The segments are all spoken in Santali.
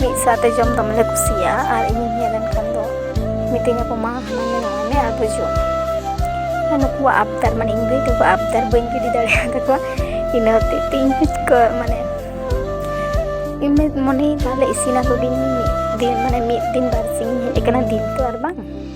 ᱢᱤᱫ ᱥᱟᱶᱛᱮ ᱡᱚᱢ ᱫᱚᱢᱮ ᱞᱮ ᱠᱩᱥᱤᱭᱟᱜᱼᱟ ᱟᱨ ᱤᱧᱤᱧ ᱦᱮᱡ ᱞᱮᱱᱠᱷᱟᱱ ᱫᱚ ᱢᱤᱛᱟᱹᱧ ᱟᱠᱚ ᱢᱟ ᱦᱟᱱᱟ ᱢᱮ ᱱᱟᱣᱟ ᱢᱮ ᱟᱨ ᱵᱚ ᱡᱚᱢᱟ ᱟᱨ ᱱᱩᱠᱩᱣᱟᱜ ᱟᱵᱫᱟᱨ ᱢᱟᱱᱮ ᱤᱧ ᱵᱷᱟᱹᱭ ᱛᱟᱠᱚ ᱟᱵᱫᱟᱨ ᱵᱟᱹᱧ ᱜᱤᱰᱤ ᱫᱟᱲᱮᱭᱟᱜ ᱛᱟᱠᱚᱣᱟ ᱤᱱᱟᱹ ᱦᱚᱛᱮᱡ ᱛᱮ ᱤᱧ ᱠᱚ ᱢᱟᱱᱮ ᱤᱧ ᱢᱚᱱᱮᱭ ᱛᱟᱦᱞᱮ ᱤᱥᱤᱱ ᱟᱠᱚ ᱜᱤᱧ ᱢᱤᱫ ᱫᱤᱱ ᱢᱟᱱᱮ ᱢᱤᱫ ᱫᱤᱱ ᱵᱟᱨ ᱥᱤᱧ ᱦᱮᱡ ᱟᱠᱟᱱᱟ ᱫᱤᱱ ᱛᱚ ᱟᱨ ᱵᱟᱝ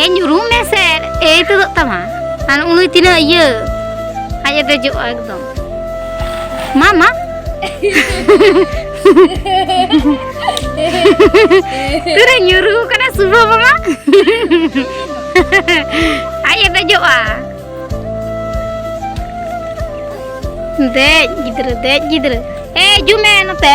ᱮ ᱧᱩᱨᱩ ᱢᱮᱥᱮᱨ ᱮ ᱛᱮᱫᱚᱜ ᱛᱟᱢᱟ ᱟᱨ ᱩᱱᱩᱭ ᱛᱤᱱᱟᱹᱜ ᱤᱭᱟᱹ ᱟᱡ ᱮ ᱫᱮᱡᱚᱜᱼᱟ ᱮᱠᱫᱚᱢ ᱢᱟ ᱢᱟ ᱛᱤᱨᱮ ᱧᱩᱨᱩ ᱠᱟᱱᱟ ᱥᱩᱵᱷᱚ ᱢᱟᱢᱟ ᱟᱡ ᱮ ᱫᱮᱡᱚᱜᱼᱟ ᱫᱮᱡ ᱜᱤᱫᱽᱨᱟᱹ ᱫᱮᱡ ᱜᱤᱫᱽᱨᱟᱹ ᱮ ᱦᱤᱡᱩᱜ ᱢᱮ ᱱᱚᱛᱮ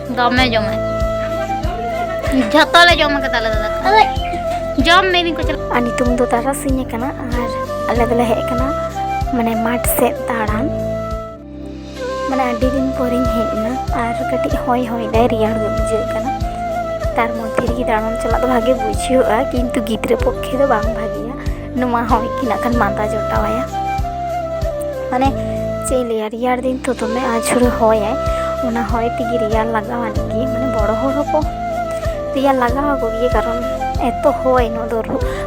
ᱫᱚᱢᱮ ᱡᱚᱢᱟ ᱡᱷᱚᱛᱚ ᱞᱮ ᱡᱚᱢ ᱠᱟᱫᱟ ᱟᱞᱮ ᱫᱟᱫᱟ ᱡᱚᱢ ᱢᱮ ᱤᱧ ᱠᱚ ᱪᱟᱞᱟᱜ ᱟᱨ ᱱᱤᱛᱚᱝ ᱫᱚ ᱛᱟᱨᱟᱥᱤᱧ ᱟᱠᱟᱱᱟ ᱟᱨ ᱟᱞᱮ ᱫᱚᱞᱮ ᱦᱮᱡ ᱟᱠᱟᱱᱟ ᱢᱟᱱᱮ ᱢᱟᱴᱷ ᱥᱮᱫ ᱫᱟᱬᱟᱱ ᱢᱟᱱᱮ ᱟᱹᱰᱤ ᱫᱤᱱ ᱯᱚᱨᱮᱧ ᱦᱮᱡ ᱮᱱᱟ ᱟᱨ ᱠᱟᱹᱴᱤᱡ ᱦᱚᱭ ᱦᱚᱭ ᱫᱟᱭ ᱨᱮᱭᱟᱲ ᱜᱮ ᱵᱩᱡᱷᱟᱹᱜ ᱠᱟᱱᱟ ᱛᱟᱨ ᱢᱚᱫᱽᱫᱷᱮ ᱨᱮᱜᱮ ᱫᱟᱬᱟᱱ ᱪᱟᱞᱟᱜ ᱫᱚ ᱵᱷᱟᱜᱮ ᱵᱩᱡᱷᱟᱹᱜᱼᱟ ᱠᱤᱱᱛᱩ ᱜᱤᱫᱽᱨᱟᱹ ᱯᱚᱠᱠᱷᱮ ᱫᱚ ᱵᱟᱝ ᱵᱷᱟᱜᱮ ᱱᱚᱣᱟ ᱦᱚᱸ ᱤᱠᱤ ᱱᱟᱜ ᱠᱷᱟᱱ ᱢᱟᱸᱫᱟ ᱡᱚᱴᱟᱣᱟᱭᱟ ᱢᱟᱱᱮ ᱪᱮᱫ ᱤᱧ ᱞᱟᱹᱭᱟ ᱨᱮᱭᱟᱲ ᱫᱤᱱ ᱛᱚ ᱫᱚᱢᱮ ᱟᱹᱪᱩᱨᱮ ᱦᱚᱭᱟᱭ ᱚᱱᱟ ᱦᱚᱭ ᱛᱮᱜᱮ ᱨᱮᱭᱟᱲ ᱞᱟᱜᱟᱣᱟᱱ ᱜᱮ ᱢᱟᱱᱮ ᱵᱚᱲᱚ ᱦᱚᱲ ᱦᱚᱸᱠᱚ ᱨᱮᱭᱟᱲ ᱞᱟᱜᱟᱣ ᱟᱠᱚ ᱜᱮ ᱠᱟᱨᱚᱱ ᱮᱛᱚ ᱦᱚᱭ ᱱᱚᱣᱟ ᱫᱚ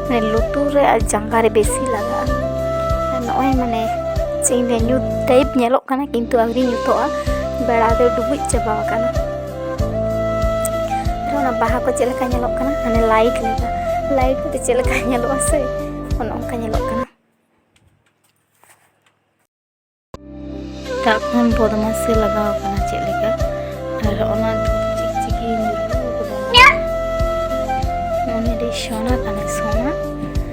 ᱢᱟᱱᱮ ᱞᱩᱛᱩᱨ ᱨᱮ ᱟᱨ ᱡᱟᱸᱜᱟ ᱨᱮ ᱵᱮᱥᱤ ᱞᱟᱜᱟᱜᱼᱟ ᱟᱨ ᱱᱚᱜᱼᱚᱭ ᱢᱟᱱᱮ ᱪᱮᱫ ᱤᱧ ᱞᱟᱹᱭᱟ ᱧᱩᱛ ᱴᱟᱭᱤᱯ ᱧᱮᱞᱚᱜ ᱠᱟᱱᱟ ᱠᱤᱱᱛᱩ ᱟᱹᱣᱨᱤ ᱧᱩᱛᱚᱜᱼᱟ ᱵᱮᱲᱟ ᱫᱚ ᱰᱩᱵᱩᱡ ᱪᱟᱵᱟ ᱟᱠᱟᱱᱟ ᱚᱱᱟ ᱵᱟᱦᱟ ᱠᱚ ᱪᱮᱫ ᱞᱮᱠᱟ ᱧᱮᱞᱚᱜ ᱠᱟᱱᱟ ᱢᱟᱱᱮ ᱞᱟᱭᱤᱴ ᱞᱮᱠᱟ ᱞᱟᱭᱤᱴ ᱛᱮ ᱪᱮᱫ ᱞᱮᱠᱟ ᱧᱮᱞᱚᱜᱼᱟ ᱥᱮ ᱚᱱᱮ ᱚᱱᱠᱟ ᱧᱮᱞᱚᱜ ᱠᱟᱱᱟ ᱮᱴᱟᱜ ᱠᱷᱚᱱ ᱵᱚᱫᱢᱟᱥ ᱜᱮ ᱞᱟᱜᱟᱣ ᱠᱟᱱᱟ ᱪᱮᱫ ᱞᱮᱠᱟ ᱟᱨ ᱚᱱᱟ ᱪᱤᱠᱪᱤᱠᱤ ᱧᱩᱨᱦᱩ ᱠᱟᱫᱟ ᱢᱚᱱᱮ ᱨᱮ ᱥᱚᱱᱟ ᱠᱟᱱᱟ ᱥᱚᱱᱟ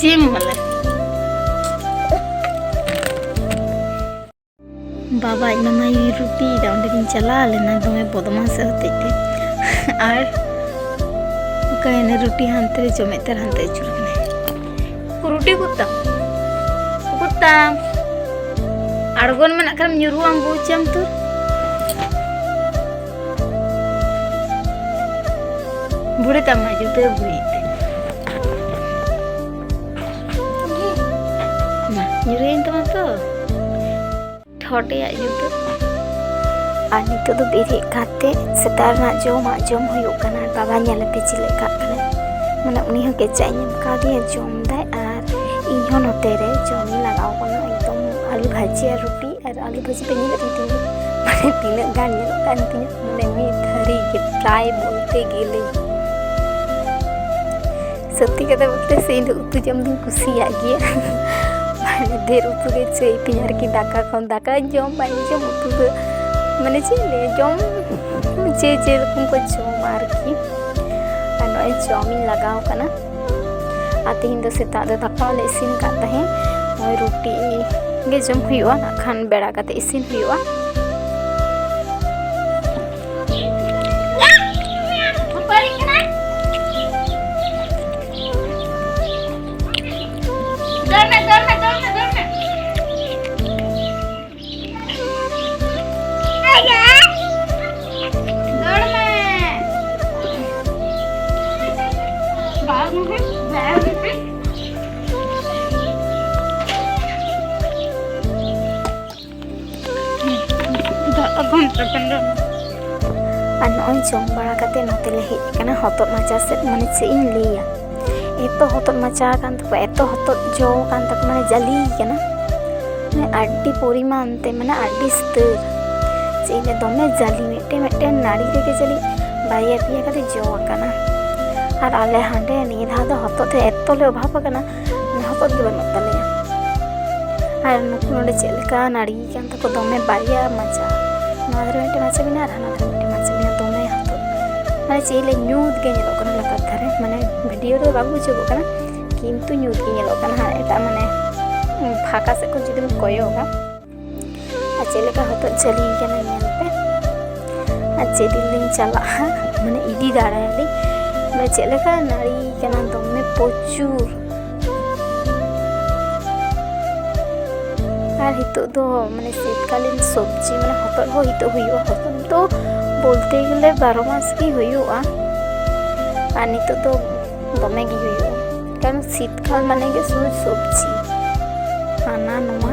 চিম বলে ᱵᱟᱵᱟ ᱮᱱᱟᱢᱟ ᱨᱩᱴᱤ ᱫᱟ ᱚᱸᱰᱮ ᱜᱤᱧ ᱪᱟᱞᱟᱣ ᱞᱮᱱᱟ ᱫᱚᱢᱮ ᱵᱚᱫᱢᱟᱥ ᱦᱚᱛᱮᱡ ᱛᱮ ᱟᱨ ᱚᱠᱟᱭᱮᱱᱟ ᱨᱩᱴᱤ ᱦᱟᱱᱛᱮ ᱨᱮ ᱡᱚᱢᱮᱫ ᱛᱟᱨ ᱦᱟᱱᱛᱮ ᱟᱹᱪᱩᱨ ᱠᱟᱱᱟᱭ ᱨᱩᱴᱤ ᱠᱩᱛᱟᱢ ᱠᱩᱛᱟᱢ ᱟᱬᱜᱚᱱ ᱢᱮᱱᱟᱜ ᱠᱷᱟᱱ ᱧᱩᱨᱩᱜ ᱟᱢ ᱵᱩᱡᱟᱢ ᱛᱚ ᱵᱩᱲᱤ ᱛᱟᱢ ᱢᱟ ᱡᱩᱛᱟᱹ ᱵᱩᱲᱤ ᱢᱟ ᱧᱩᱨᱩᱭᱮᱱ ᱛᱟᱢᱟ ᱛᱚ ᱴᱷᱚᱴᱮᱭᱟᱜ ᱡᱩᱛᱟᱹ ᱟᱨ ᱱᱤᱛᱚᱜ ᱫᱚ ᱵᱮᱨᱮᱫ ᱠᱟᱛᱮ ᱥᱮᱛᱟᱜ ᱨᱮᱱᱟᱜ ᱡᱚᱢᱟᱜ ᱡᱚᱢ ᱦᱩᱭᱩᱜ ᱠᱟᱱᱟ ᱵᱟᱵᱟ ᱧᱮᱞᱟᱛᱮ ᱪᱮᱫ ᱞᱮᱠᱟ ᱠᱟᱱᱟ ᱢᱟᱱᱮ ᱩᱱᱤ ᱦᱚᱸ ᱠᱮᱪᱟᱜ ᱤᱧ ᱮᱢ ᱠᱟᱣᱫᱮᱭᱟ ᱡᱚᱢ ᱫᱟᱭ ᱟᱨ ᱤᱧ ᱦᱚᱸ ᱱᱚᱛᱮ ᱨᱮ ᱡᱚᱢᱤᱧ ᱞᱟᱜᱟᱣ ᱠᱟᱱᱟ ᱮᱠᱫᱚᱢ ᱟᱞᱩ ᱵᱷᱟᱹᱡᱤ ᱟᱨ ᱨᱩᱴᱤ ᱟᱞᱩ ᱵᱷᱟᱹᱡᱤ ᱯᱮ ᱧᱮᱞᱮᱫ ᱛᱤᱧ ᱛᱤᱧ ᱢᱟᱱᱮ ᱛᱤᱱᱟᱹᱜ ᱜᱟᱱ ᱧᱮᱞᱚᱜ ᱠᱟᱱ ᱛᱤᱧᱟ ᱢᱟᱱᱮ ᱢᱤᱫ ᱛᱷᱟᱹᱨᱤ ᱜᱮ ᱯᱨᱟᱭ ᱵᱚᱞᱛᱮ ᱜᱮᱞᱮ ᱥᱚᱛᱛᱤ ᱠᱟᱛᱷᱟ ᱵᱚᱞᱛᱮ ᱥᱮ ᱤᱧ ᱫᱚ ᱩᱛᱩ ᱡᱚᱢ ᱫᱚᱧ ᱠᱩᱥᱤᱭᱟᱜ ᱜᱮᱭᱟ ᱢᱟᱱᱮ ᱰᱷᱮᱨ ᱩᱛᱩ ᱜᱮ ᱪᱟᱹᱭ ᱛᱤᱧ ᱟᱨᱠᱤ ᱫᱟᱠᱟ ᱠᱷᱚᱱ ᱫᱟᱠᱟ ᱡᱚᱢ ᱵᱟᱹᱧ ᱡᱚᱢ ᱩᱛᱩ ᱫᱚ ᱢᱟᱱᱮ ᱪᱮᱫ ᱞᱮ ᱡᱚᱢ ᱡᱮ ᱡᱮᱨᱚᱠᱚᱢ ᱠᱚ ᱡᱚᱢᱟ ᱟᱨᱠᱤ ᱟᱨ ᱱᱚᱜᱼᱚᱭ ᱡᱚᱢᱤᱧ ᱞᱟᱜᱟᱣ ᱠᱟᱱᱟ ᱟᱨ ᱛᱮᱦᱮᱧ ᱫᱚ ᱥᱮᱛᱟᱜ ᱫᱚ ᱫᱟᱠᱟ ᱞᱮ ᱤᱥᱤᱱ ᱠᱟᱫ ᱛᱟᱦᱮᱸᱫ ᱱᱚᱜᱼᱚᱭ ᱨᱩᱴᱤ ᱜᱮ ᱡᱚᱢ ᱦᱩᱭᱩᱜᱼᱟ ᱱᱟᱜ ᱠᱷᱟᱱ ᱵᱮᱲᱟ ᱠᱟᱛᱮ ᱤᱥᱤᱱ ᱦᱩᱭᱩᱜᱼᱟ ᱟᱨ ᱱᱚᱜᱼᱚᱭ ᱡᱚᱢ ᱵᱟᱲᱟ ᱠᱟᱛᱮ ᱱᱚᱛᱮ ᱞᱮ ᱦᱮᱡ ᱟᱠᱟᱱᱟ ᱦᱚᱛᱚᱫ ᱢᱟᱪᱟ ᱥᱮᱫ ᱢᱟᱱᱮ ᱪᱮᱫ ᱤᱧ ᱞᱟᱹᱭᱟ ᱮᱛᱚ ᱦᱚᱛᱚᱫ ᱢᱟᱪᱟ ᱟᱠᱟᱱ ᱛᱟᱠᱚ ᱮᱛᱚ ᱦᱚᱛᱚᱫ ᱡᱚ ᱟᱠᱟᱱ ᱛᱟᱠᱚ ᱢᱟᱱᱮ ᱡᱟᱹᱞᱤ ᱠᱟᱱᱟ ᱢᱟᱱᱮ ᱟᱹᱰᱤ ᱯᱚᱨᱤᱢᱟᱱ ᱛᱮ ᱢᱟᱱᱮ ᱟᱹᱰᱤ ᱥᱛᱟᱹᱨ ᱪᱮᱫ ᱤᱧ ᱫᱚᱢᱮ ᱡᱟᱹᱞᱤ ᱢᱤᱫᱴᱮᱱ ᱢᱤᱫᱴᱮᱱ ᱱᱟᱹᱲᱤ ᱨᱮᱜᱮ ᱡᱟᱹᱞᱤ ᱵᱟᱨᱭᱟ ᱯᱮᱭᱟ ᱠᱟᱛᱮ ᱡᱚ ᱟᱠᱟᱱᱟ ᱟᱨ ᱟᱞᱮ ᱦᱟᱸᱰᱮ ᱱᱤᱭᱟᱹ ᱫᱷᱟᱣ ᱫᱚ ᱦᱚᱛᱚᱫ ᱛᱮ ᱮᱛᱚ ᱞᱮ ᱚᱵᱷᱟᱵ ᱟᱠᱟᱱᱟ ᱦᱚᱛᱚᱫ ᱜᱮ ᱵᱟᱹᱱᱩᱜ ᱛᱟᱞᱮᱭᱟ ᱟᱨ ᱱᱩᱠᱩ ᱱᱚᱰᱮ ᱪᱮᱫ ᱞᱮᱠᱟ ᱱᱟᱹᱲᱤ ᱟᱠᱟᱱ ᱛᱟᱠᱚ ᱠᱚ ᱫᱚᱢᱮ ᱵᱟᱨᱭᱟ ᱢᱟᱪᱟ ᱱᱚᱣᱟ ᱫᱷᱟᱨᱮ ᱢᱤᱫᱴᱮᱱ ᱢᱟᱪᱟ ᱢᱮᱱᱟᱜᱼᱟ ᱟᱨ ᱦᱟᱱᱟ ᱫᱷᱟᱨᱮ ᱢᱤᱫᱴᱮᱱ ᱢᱟᱪᱟ ᱢᱮᱱᱟᱜᱼᱟ ᱫᱚᱢᱮ ᱦᱟᱛᱚ ᱢᱟᱱᱮ ᱪᱮᱫ ᱞᱮ ᱧᱩᱛ ᱜᱮ ᱧᱮᱞᱚᱜ ᱠᱟᱱᱟ ᱞᱟᱛᱟᱨ ᱫᱷᱟᱨᱮ ᱢᱟᱱᱮ ᱵᱷᱤᱰᱤᱭᱳ ᱨᱮ ᱵᱟᱝ ᱵᱩᱡᱷᱟᱹᱜᱚᱜ ᱠᱟᱱᱟ ᱠᱤᱱᱛᱩ ᱧᱩᱛ ᱜᱮ ᱧᱮᱞᱚᱜ ᱠᱟᱱᱟ ᱟᱨ ᱮᱴᱟᱜ ᱢᱟᱱᱮ ᱯᱷᱟᱸᱠᱟ ᱥᱮᱫ ᱠᱷᱚᱱ ᱡᱩᱫᱤᱢ ᱠᱚᱭᱚᱜᱟ ᱟᱨ ᱪᱮᱫ ᱞᱮᱠᱟ ᱦᱚᱛᱚᱫ ᱡᱷᱟᱹᱞᱤ ᱠᱟᱱᱟ ᱧᱮᱞ ᱯᱮ ᱟᱨ ᱪᱮᱫ ᱫᱤᱱ ᱞᱤᱧ ᱪᱟᱞᱟᱜᱼᱟ ᱢᱟᱱᱮ ᱤᱫᱤ ᱫᱟᱲᱮᱭᱟᱞᱤᱧ ᱢᱟᱱᱮ ᱪᱮᱫ ᱞᱮᱠᱟ ᱱᱟᱹᱲᱤ ᱠᱟᱱᱟ ᱫᱚᱢᱮ ᱯᱨᱚᱪᱩᱨ ᱟᱨ ᱱᱤᱛᱚᱜ ᱫᱚ ᱢᱟᱱᱮ ᱥᱤᱛᱠᱟᱞᱤᱱ ᱥᱚᱵᱽᱡᱤ ᱢᱟᱱᱮ ᱦᱚᱛᱚᱫ ᱦᱚᱸ ᱱᱤᱛᱚᱜ ᱦᱩᱭᱩᱜᱼᱟ ᱦᱚᱛᱚᱫ ᱫᱚ ᱵᱚᱞᱛᱮ ᱜᱮᱞᱮ ᱵᱟᱨᱚ ᱢᱟᱥ ᱜᱮ ᱦᱩᱭᱩᱜᱼᱟ ᱟᱨ ᱱᱤᱛᱚᱜ ᱫᱚ ᱫᱚᱢᱮ ᱜᱮ ᱦᱩᱭᱩᱜᱼᱟ ᱠᱟᱨᱚᱱ ᱥᱤᱛᱠᱟᱞ ᱢᱟᱱᱮ ᱜᱮ ᱥᱩᱫᱷᱩ ᱥᱚᱵᱽᱡᱤ ᱦᱟᱱᱟ ᱱᱚᱣᱟ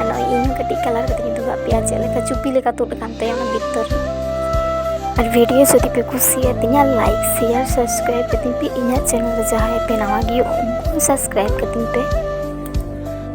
ᱟᱨ ᱱᱚᱜᱼᱚᱭ ᱤᱧ ᱠᱟᱹᱴᱤᱡ ᱠᱟᱞᱟᱨ ᱠᱟᱛᱮ ᱤᱧ ᱫᱩᱜᱟᱜ ᱯᱮᱭᱟ ᱪᱮᱫ ᱞᱮᱠᱟ ᱪᱩᱯᱤ ᱞᱮᱠᱟ ᱛᱩᱫ ᱟᱠᱟᱱ ᱛᱟᱭᱟ ᱚᱱᱟ ᱵᱷᱤᱛᱚᱨ ᱟᱨ ᱵᱷᱤᱰᱤᱭᱳ ᱡᱩᱫᱤ ᱯᱮ ᱠᱩᱥᱤᱭᱟᱛᱤᱧᱟ ᱞᱟᱭᱤᱠ ᱥᱮᱭᱟᱨ ᱥᱟᱵᱥᱠᱨᱟᱭᱤᱵ ᱠᱟᱛᱤᱧ ᱯᱮ ᱤᱧᱟᱹᱜ ᱪᱮᱱᱮᱞ ᱨᱮ ᱡᱟᱦᱟᱸᱭ ᱯᱮ ᱱᱟᱣᱟ ᱜᱮᱭᱟ ᱩᱱᱠᱩ ᱥᱟᱵᱥᱠᱨᱟᱭᱤᱵ ᱠᱟᱛᱤᱧ ᱯᱮ